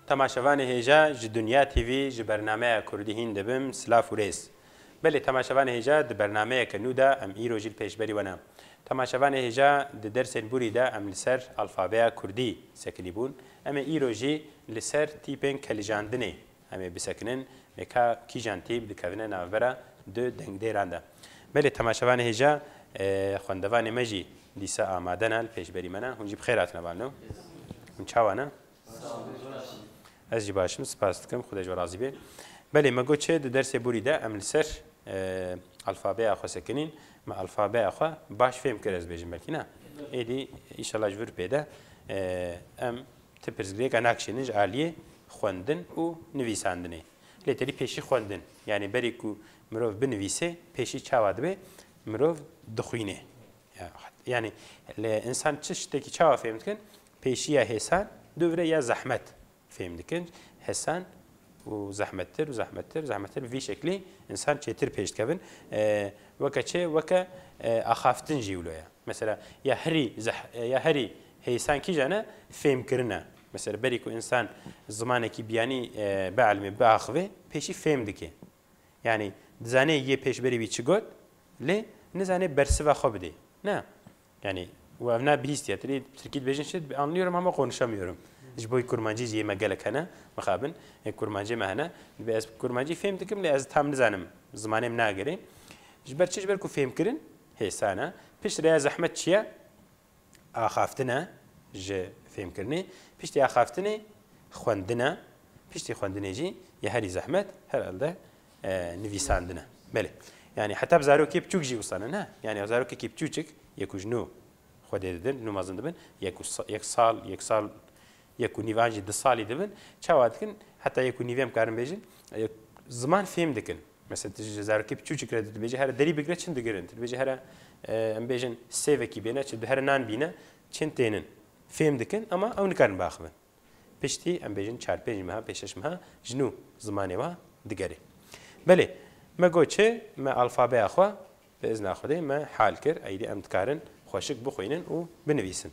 Temaşevanê hêja ji Dunya TV ji bernameya Kurdî hîn dibim silav û rêz. Belê temaşevanê hêja di bernameyeke nû de em îro jî li pêş berî we ne. Temaşevanê hêja di dersên borî de em li ser alfabeya Kurdî sekilî bûn. Em ê îro jî li ser tîpên kelijandinê Em ê bisekinin, lê ka kîjan tîp dikevine navbera du dengdêran de. Belê temaşevanê hêja xwendevanê me jî dîsa amade ne li pêşberî me ne. Hûn jî bi xêr hatine ba no. Hûn çawa ne? Ez jî baş im, spas dikim, Xwedê ji we razî bê. Belê me got çi di dersê borî de em li ser alfabeya xwe sekinîn, me alfabeya xwe baş fêm kir ez bêjim belkî ne. Êdî îşallah ji vir pê de em Ti pirsgirêka nakişînin ji aliyê xwendin û nivîsandinê. Lê tedî pêşî xwendin. Yanî berî ku mirov binivîsê pêşî çawa dibe? Mirov dixwîne. Yanî li însan çi ştekî çawa fêm dikin? Pêşî ya hêsan dûvire ya zehmet fêm dikin. Hêsan û zehmettir û zehmettir zehmettir bi vî şeklî însan çêtir pêş dikevin. Weke çi? Weke axaftin jî wilo ye. Mesela ya herî ya herî Hêsan kîjan e? Fêmkirin e. Mesela berî ku însan zimanekî biyanî bielimê, biaxivê pêşî fêm dike. Yanî dizanê yê pêşberî wî çi got lê nizanê bersiva xwe bidê. Na. Yanî û ev na bihîstiya te lê tirkî dibêjin çi? Dibê anlıyorum ama konuşamıyorum. Ji bo kurmancî jî yê me gelek hene, mixabin yê kurmancê me hene. Dibê ez kurmancî fêm dikim lê ez tam nizanim, zimanê min nagere. Ji ber çi? Ji ber ku fêmkirin hêsan e. Pişt re ya zehmet çi ye? axaftine ji fêmkirinê, piştî axaftinê xwendine, piştî xwendinê jî ya herî zehmet herelde nivîsandine. Belê yanî heta bi zarokê biçûk jî wisa ne ne yanî zarokekî biçûçik yek û ji nû xwedê didin nû mezin dibin yek yek sal yek sal yek û nîvan jî di salî dibin çawa dikin heta yek û nîvê em karin bêjin ziman fêm dikin. Mesela tu ji zarokê piçûçik re tu dibêjî here derî bigire çin digirin. Tu dibêjî here em bêjin sêvekî bêne çi here nan bîne çin tênin fêm dikin ama ew nikarin biaxivin. Piştî em bêjin çar pênc meha pênc şeş meha ji nû zimanê wan digerê. Belê me got çi me alfabeya xwe bi izna Xwedê me hal kir êdî em dikarin xweşik bixwînin û binivîsin.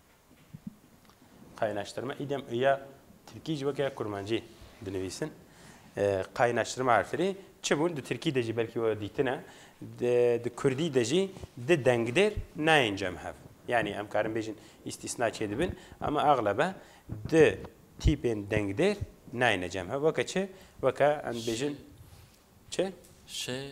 Qaynaştirma îdem ya tirkî ji weke kurmancî dinivîsin. Qaynaştirma erfirî çi bûn di tirkî de jî belkî we dîtine di kurdî de jî di dengdêr nayên cem hev. Yanî em karin bêjin îstîsna çê dibin ama exlebe di tîpên dengdêr nayêne cem hev weke çi weke em dibêjin çi? Şê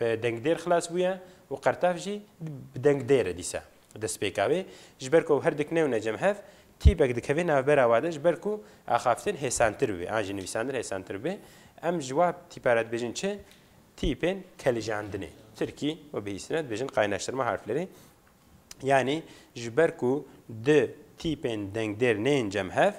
bi dengdêr xilas bûye û qertev jî bi dengdêr e dîsa destpêka wê. Ji ber ku ew her dikne û necem hev, tîpek dikeve navbera wan de ji ber ku axaftin hêsantir bibe an jî nivîsandin hêsantir bibe. Em ji wa tîpa re dibêjin çi? Tîpên kelijandinê. Tirkî û bihîstin re dibêjin qaynaştirma harflerê. Yanî ji ber ku du tîpên dengdêr neyên cem hev,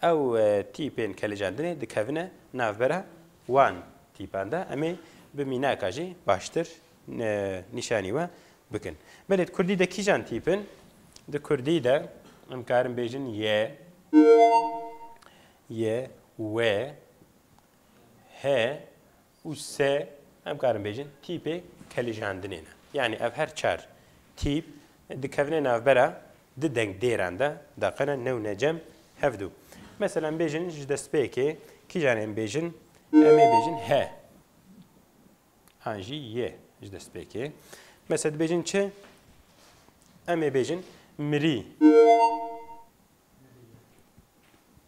Ew tîpên kelicandinê dikevine navbera wan tîpan de. Em ê bi mînaka jî baştir nîşanî we bikin. Belê di kurdî de kîjan tîp in? Di kurdî de em karin bêjin ye, ye, we, he, û se em karin bêjin tîpê kelijandinê ne. Yanî ev her çar tîp dikevine navbera du dengdêran de daqene new ne cem hevdu. Mesela em bêjin ji destpêkê kîjan ê em bêjin? Em ê bêjin he an jî yê ji destpêkê. Mesela dibêjin çi? Em ê bêjin mirî.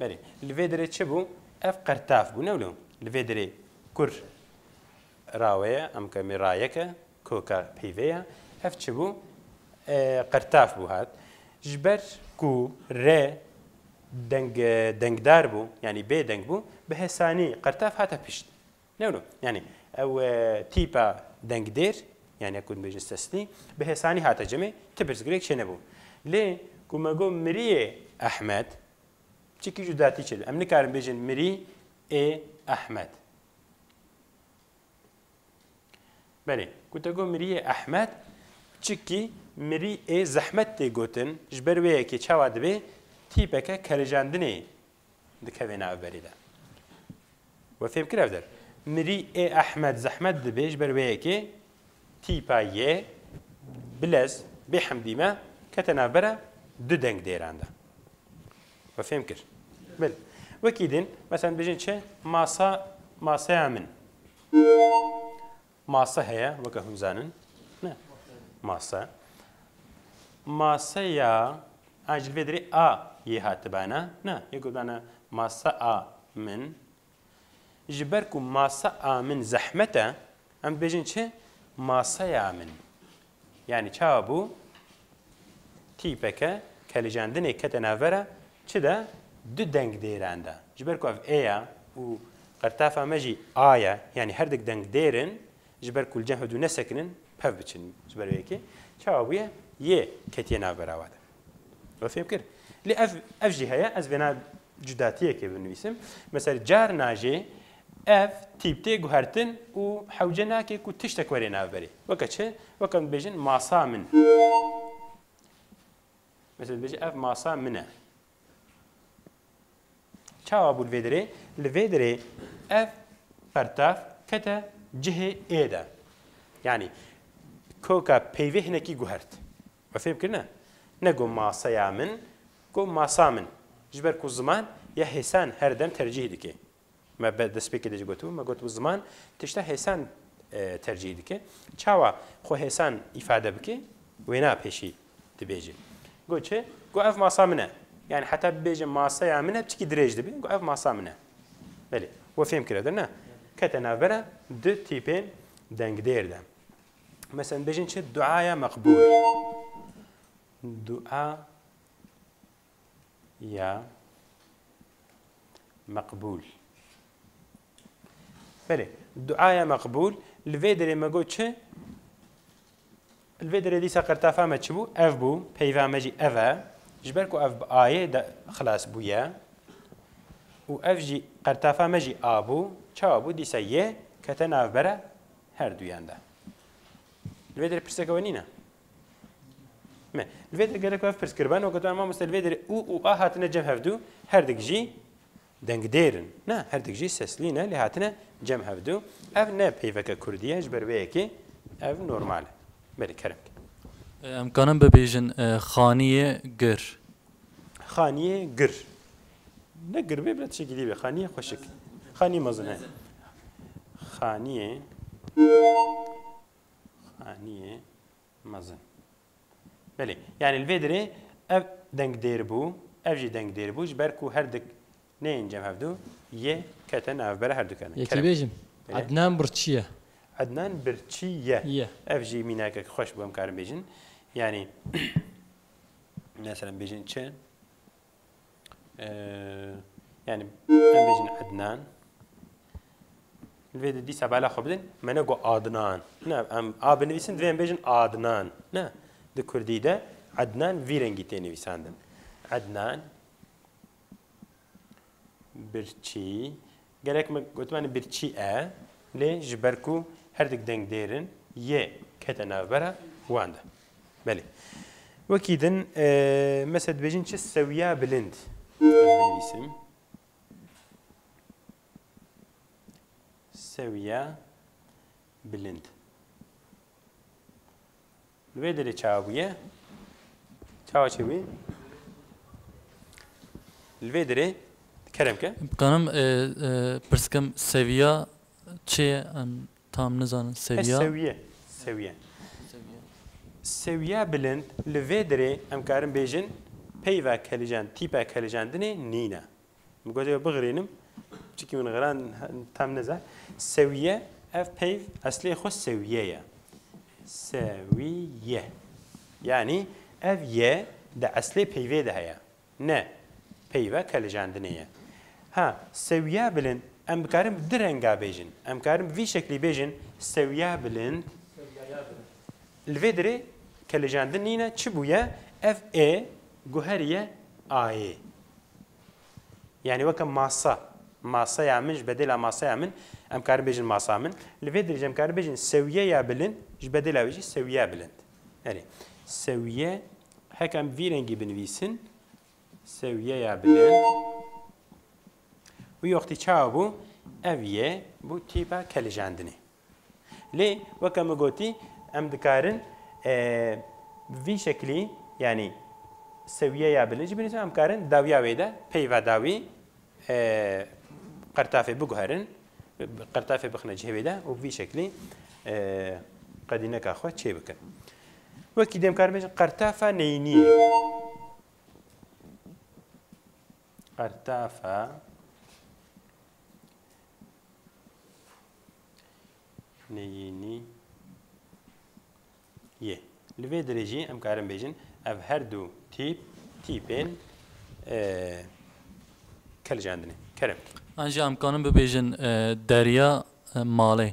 Belê. Li vê derê çi bû? Ev qirtaf bû ne wilo. Li vê derê kur rawe ye, em ke mê rayeke koka peyvê ye. Ev çi bû? Qirtaf bû hat. Ji ber ku re deng dengdar bû, yanî bê deng bû, bi hesanî qirtaf hate pişt. No no yanî ew tîpa dengdêr yanî ku dibêjin sesnî bi hêsanî hate cemê ti pirsgirêk çênebû. Lê ku me got miriyê Ehmed çikî cudatî çêdibe. Em nikarin bêjin mirî ê Ehmed. Belê ku te got miriyê Ehmed çikî mirî ê zehmet tê gotin ji ber wê yekê çawa dibê tîpeke kerejandinê dikeve nav berê de. We fêm kir ev der. Mirî ê Ehmed zehmet dibê ji ber wê yekê tîpa yê bilez bê hemdî me kete navbera du deng dêran de. We fêm kir. Bil. Wekî din, meselen dibêjin çi? Masa, maseya min. Mase heye weke hûn zanin? Ne. Mase. Mase ya a ji li vê derê a yê hatibane? Ne. Yê gotibane mase a min. Ji ber ku mase a min zehmet e, em dibêjin çi? Maseya min. Yanî çawa bû tîpeke kelicandinê kete navber a çi de du deng dêran de. Ji ber ku ev ê ya û qirtafa me jî a ye yanî her dik deng dêr in ji ber ku li cem hev du nesekinin pev biçin ji ber vê yekê çawa bûye yê ketiye navbera we de. Ew fêm kir. Lê ev ev jî heye ez vêna cudatiyekê binivîsim. Mesela carna jê ev tîp tê guhertin û hewce nake ku tiştek were nav berê. Weke çi? Weke em dibêjin masa min. Mesela dibêje ev masa min e. Çawa bû li vê derê? Li vê derê ev pertav kete cihê ê de. Yani koka peyvê hinekî guhert. Me fêm kir ne. Ne got maseya min, got masa min. Ji ber ku ziman ya hêsan her dem tercîh dike. Me bi destpêkê de jî gotibû, me gotibû ziman tişta hêsan tercîh dike. Çawa xwe hêsan îfade bike, wêna pêşî dibêje. Got çi? Got ev masa min e. Yanî heta bibêje maseya min e, çikî dirêj dibe, got ev masa min e. Belê, we fêm kiriye dir ne? Kete navbera du tîpên dengdêr de. Mesela bêjin çi? Duaya meqbûl. Dua ya meqbûl. Belê, duaya meqbûl li vê derê me got çi? Li vê derê dîsa qirtafa me çi bû? Ev bû, peyva me jî ev e. Ji ber ku ev bi ayê de xilas bûye û ev jî qirtafa me jî a bû, çawa bû dîsa yê kete navbera Her duyan de. Li vê derê pirseke we nîne? Me. Li vê derê gerek ev pirs kiriben û gotiben mamoste li vê derê û û a hatine cem hevdû herdik jî dengdêr in. Ne herdik jî seslî ne lê hatine cem hevdû. Ev ne peyveke kurdî ye ji ber wê yekê ev normal e. Belê kerem bike. Em kanin bibêjin xaniyê gir? Xaniyê gir. Ne girbê bile tişekî dî be. Xaniyê xweşik. Xaniyê mezin he. Xaniyê Xaniyê mezin. Belê. Yani li vê dirê ev dengdêr bû, ev jî dengdêr bû ji ber ku her dik neyên cem hevdu yê kete navbera her dikane. Yekî bêjim. Ednan birçî ye. Ednan birçî ye. Ye. Ev jî mînakek xweş bû em karin bêjin. Yani mesela bêjin çi? yani em bêjin Ednan vê di dîsa bala xwe bidin me ne got Adnan ne em a binivîsin divê em bêjin Adnan ne di Kurdî de Ednan vî rengî tê nivîsandin Ednan birçî Gelek me gotimanê birçî e lê ji ber ku her dik deng dêr in yê kete navbera wan de. Belê. Wekî din mese dibêjin çi sewiya bilind ez binivîsim. Sewiya bilind. Li vê derê çawa bûye? Çawa çê bûye? Li vê derê kerem ke. Dikarim pirsikim seviya çê ye? Em tam nizanin seviya. Seviye. Seviye. Seviya bilind li vê derê em karin bêjin peyva kelijan, tîpa kelijandinê nîne. Min got ew bixirînim çikî min xiran tam neza. Sewiye ev peyv eslê xwe sewiye ye. Sewiye. Yanî ev ye di eslê peyvê de heye. Ne peyve kelicandinê ye. Ha sewiya bilind em bikarin bi du renga bêjin. Em karin bi vî şeklî bêjin sewiya bilind. Li vê dirê kelicandin nîne çi bûye ev ê guheriye ayê. Yanî weke masa, masaya min ji bedêla masaya min em karin bêjin masa min. Li vê dirê jî em karin bêjin sewiyeya bilind ji bedêla wê jî sewiyeya bilind. Erê sewiye heke em vî rengî binivîsin sewiyeya bilind. Wî wextî çawa bû? Ev yê bû tîpa kelicandinê. Lê weke min gotî em dikarin vî şeklî yanî sewiyeya bilin jî binivîsin, em karin dawiya wê de peyva dawî qertafê biguherin, qertafê bixine cihê wê de û vî şeklî qedîneka xwe çê bikin. Wekî dêm karin bêjin qertafa neyîniyê. Qertefe, Neyînî yê. Li vê dirê jî em karin bêjin ev her du tîp tîpên kilicandinê. Kerem. An jî em karin bibêjin deriya malê.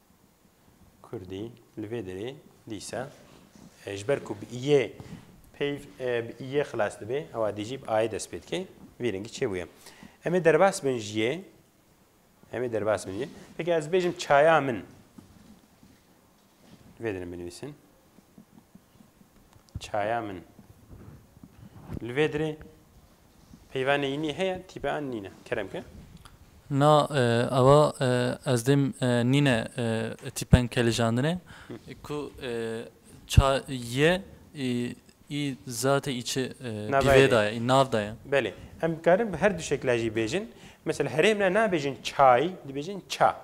Kurdî li vê derê dîsa ji ber ku bi iyê peyv bi iyê xilas dibe ewa dê jî bi ayê dest pê dike. Vî rengî çêbûye. Em ê derbas bin ji yê em ê derbas bin jê. Peki ez bêjim çaya min. Vê dinim binivîsin. Çaya min. Li vê dirê peyva neyînî heye, tîpe an nîne. Kerem ke. Na ava ez dêm nîne tîpen ke lijandine ku ça ye î zatê î çi pîvê da ye, î nav da ye. Belê. Em dikarin bi her du şekla jî bêjin. Mesela herêmna nabêjin çay, dibêjin ça.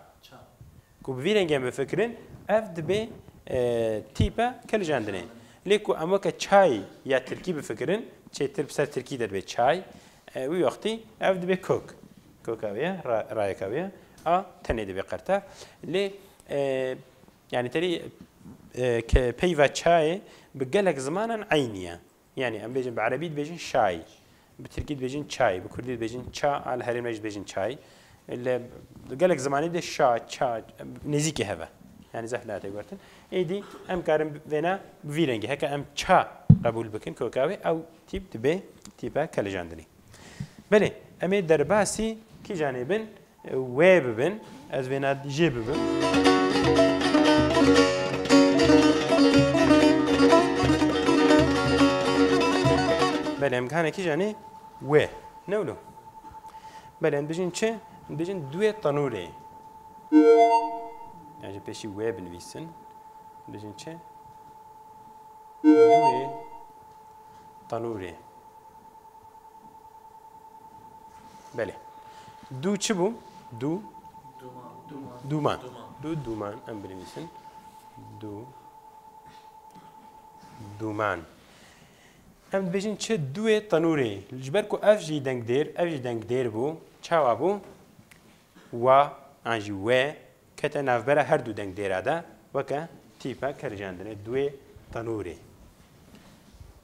Ku bi vî rengê bifikirin ev dibê tîpe kiljendinê. Lê ku em weke çay ya tirkî bifikirin, çêtir bi ser tirkî de dibê çay, wî wextî ev dibê kok. Koka wê ye, rayeka wê ye. A tenê dibê qertev. Lê yanî terî peyva çayê bi gelek zimanan eynî ye. Yanî em bêjin bi erebî dibêjin şay, bi tirkî dibêjin çay, bi kurdî dibêjin ça a li herêm re jî dibêjin çay. Li gelek zimanê de şa, ça nêzîkî hev e. Yanî zehf nayê têgortin. Êdî em karin vêna bi vî rengî heke em ça qebûl bikin ku ka wê ew tîp dibe tîpa kelijandinê. Belê em ê derbasî kîjan ê bin Wê bibin, ez vêna jê bibim. Belê em gihanekî jî anî wê ne wilo. Belê em dijîn çi? Em dijîn duwê tenûrê. Yan jî pêşî wê binivîsin. Dijîn çi? Duwê tenûrê. Belê. Du çi bû? Du duman. Du duman. Em binivîsin. Du duman. Em dibêjin çi duê tenûrê. Ji ber ku ev jî dengdêr, ev jî dengdêr bû. Çawa bû? Wa an jî wê kete navbera her du dengdêra de weke tîpe kericandinê duê tenûrê.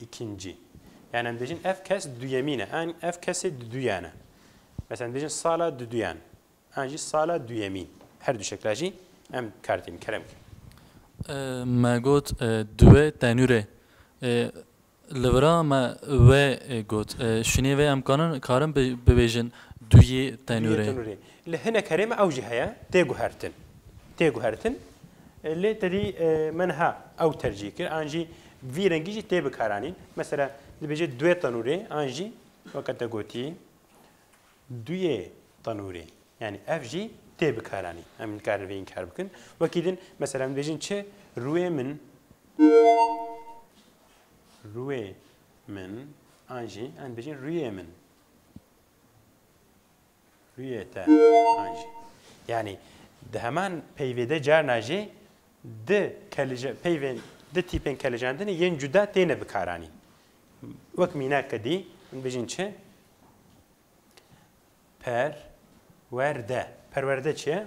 Îkincî. Yan em dibêjin ev kes duyemîn e, an ev kesê duduyan e. Mesela em dibêjin sala duduyan, an jî sala duyemîn. Her du şekla jî em bi kar tînin. Kerem kî. Me got duwe tenûrê. Li vira me we got. Şûnê vê em kanin karin bibêjin duyê tenûrê. Duyê tenûrê. Li hinek herê me ew jî heye, tê guhertin. Tê guhertin. Lê tedî me niha ew tercîh kir. An jî Vî rengî jî tê bikaranîn. Mesela dibêje duyê tenûrê an jî weke te gotî duyê tenûrê. Yanî ev jî tê bikaranîn. Em nikarin vê înkar bikin. Wekî din mesela em dibêjin çi rûyê min rûyê min an jî em dibêjin rûyê min. Rûyê te an jî. Yanî di heman peyvê de carna jî di kelije peyvên di tîpên kelijandinê yên cuda têne bikaranîn. Wek mînak ke dî min bijîn çi? Per wer de. Perwerde çi ye?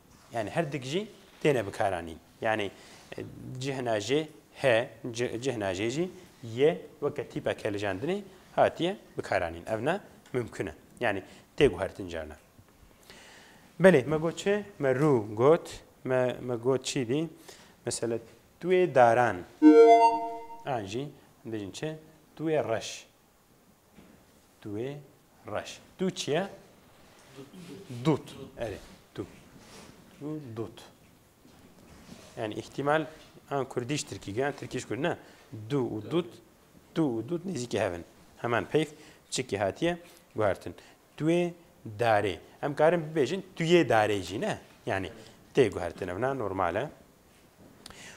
Yanî her dik jî têne bikaranîn. Yanî cihna jê he, cihna jê jî ye weke tîpeke lijandinê hatiye bikaranîn. Ev ne mimkun e. Yanî tê guhertin carna. Belê me got çi? Me rû got. Me me got çî dî? Mesela tuê daran. An jî dijin çi? Tuê reş. Duê reş. Du çi ye? Dut. Erê. Du. Du dut. Yani ihtimal an Kurdiş Tirkî gan Tirkîş Kurd ne. Du û dut. Du û dut nêzîkî hev in. Heman peyv çikî hatiye guhertin. Duê darê. Em karin bibêjin tuyê darê jî ne. Yani tê guhertin evna normal e.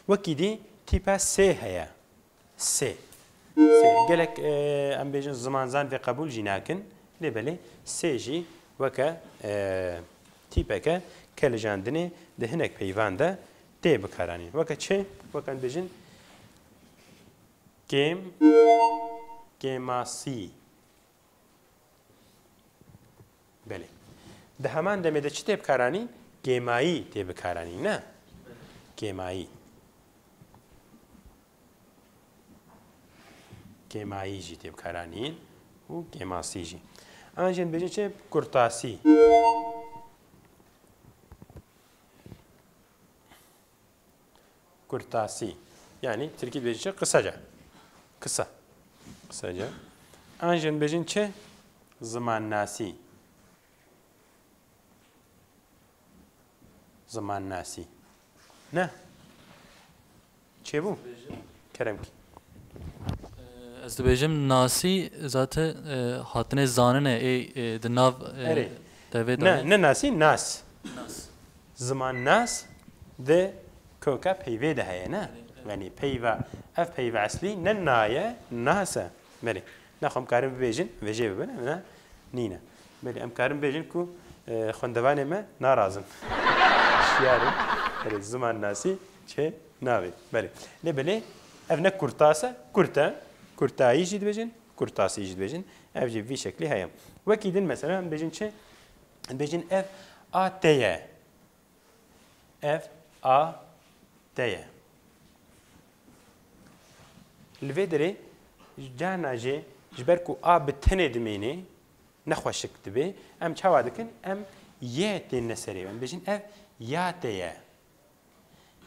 Wekî dî tîpa sê heye. Sê. Sê. Gelek em bêjin zimanzan vê qebûl jî nakin. Lê belê sê jî weke tîpeke ke lijandinê di hinek peyvan de tê bikaranîn. Weke çi? Weke em bêjin kêm, kêmasî, Belê. Di heman demê de çi tê bikaranî? Kêmayî tê bikaranî ne? Kêmayî. Kêmayî jî tê bikaranî û kêmasî jî. An jê dibêjin çi? Kurtasî. Kurtasî. Yanî tirkî dibêjin çi? Qiseca. Kisa. Qiseca. An jin dibêjin çi? Zimannasî. Zimannasî. Ne? Çêbû? Kerem kî. Ez dibêjim nasî zate e, hatine zanine ê e, di nav e, Erê. devê Ne, de ne nasî, nas. nas. Zimannas di koka peyvê de heye ne? Benê peyva, ev peyva eslî ne na ye, nas e. Belê. Na xwe em karin bibêjin, vêjê bibin em na nîn e. Belê em karin bibêjin ku xwendevanê me narazin. Şiyar in. Belê zimannasî çê nabê. Belê. Lê belê ev ne kurtas e, kurt e. Kurtayî jî dibêjin, kurtasî jî dibêjin. Ev jî vî şeklî heye. Wekî din mesela em dibêjin çi? Dibêjin ev a te ye. Ev a te ye. Li vê derê carna jê ji ber ku a bi tenê dimêne nexweşik dibe. Em çawa dikin? Em y tên li serê. Em dibêjin ev ya te ye.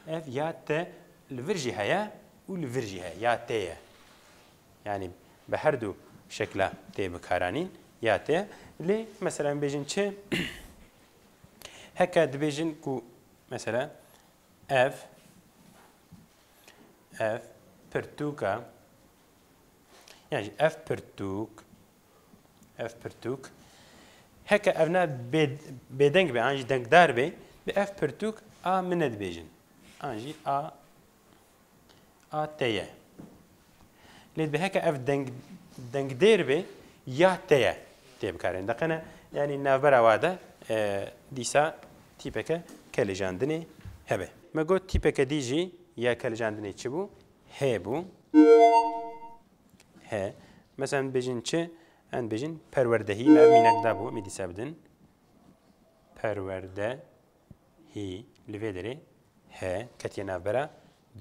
Ev ya te li vir jî heye û li vir jî heye. Ya tê ye. Yanî bi herdû şekla tê bikaranîn. Ya tê ye. Lê mesela em bêjin çi? Heke dibêjin ku mesela ev ev pirtûka yani ev pirtûk Ev pirtûk heke ev ne bêdeng be an jî dengdar be bi ev pirtûk a min ne dibêjin an jî a a te ye. Lê bi heke ev deng dengdêr be ya te ye tê bikarin deqene yanî navbera wa de dîsa tîpeke kelicandinê hebe. Me got tîpeke dî jî ya kelicandinê çi bû? Hê bû. He. Mesela em dibêjin çi? Em dibêjin perwerdehî me ev mînek dabû em ê dîsa bidin. Perwerdehî li vê derê he ketiye navbera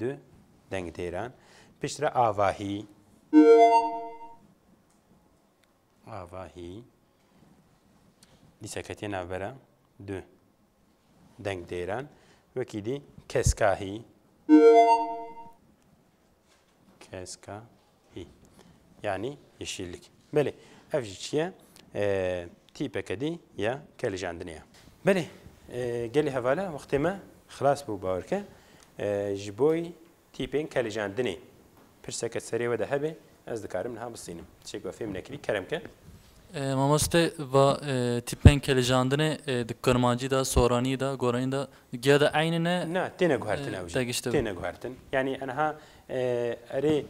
du dengdêran. Pişt re avahî. Avahî. Dîsa ketiye navbera du dengdêran. Wekî dî keskahî. Keska hî yanî yeşîlik. Belê ev jî çi ye? Tîpeke dî ya kelijandinê ye. Belê gelê hevala wextê me xilas bû bawer ke ji boî tîpên kelijandinê pirseke serê we de hebe ez dikarim niha bisînim. Tişek we fêm nekirî kerem ke Mamoste va tîpên kelijandinê di kurmancî de, soranî de, goranî de giya de eynî ne? Na, têne guhertin ew jî. Têne guhertin. Yanî aniha erê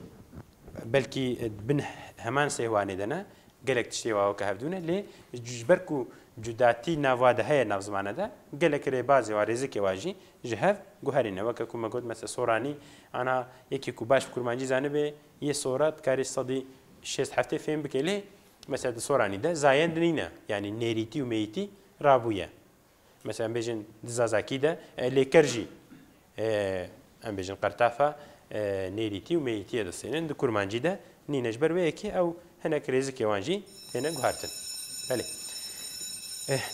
belkî di bin heman sêhwanê de ne, gelek tiştê wa weke hevdû ne lê ji ber ku cudatî nav wa de heye nav zimane de gelek rêbazê wa, rêzikê wa jî ji hev guherîne. Weke ku me got mesela soranî aniha yekê ku baş bi kurmancî zanibê Yê sora dikarî sedî şêst heftê fêm bikê lê mesela di soranî de zayend nîne yanî nêrîtî û mêyîtî rabûye. Mesela em bêjin di zazakî de lêker jî em bêjin qertafa nêrîtî û mêyîtiyê distînin di kurmancî de nîne ji ber wê yekê ew hinek rêzikê wan jî têne guhartin. Belê.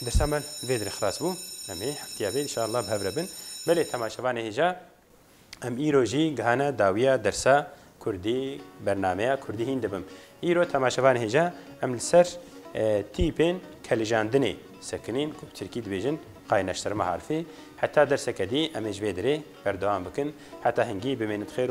Dersa me vê dirê xilas bû. Em ê heftiya vê inşallah bi hev re bin. Belê temaşevanê hêja Em îro jî gihane dawiya dersa Kurdî, bernameya Kurdî hîn dibim. Îro temaşevan hêja em li ser tîpên kelijandinê sekinîn ku bi tirkî dibêjin qaynaştirma harfê. Heta derseke dî em ê ji vê dirê berdewam bikin. Heta hingî bimênit xêr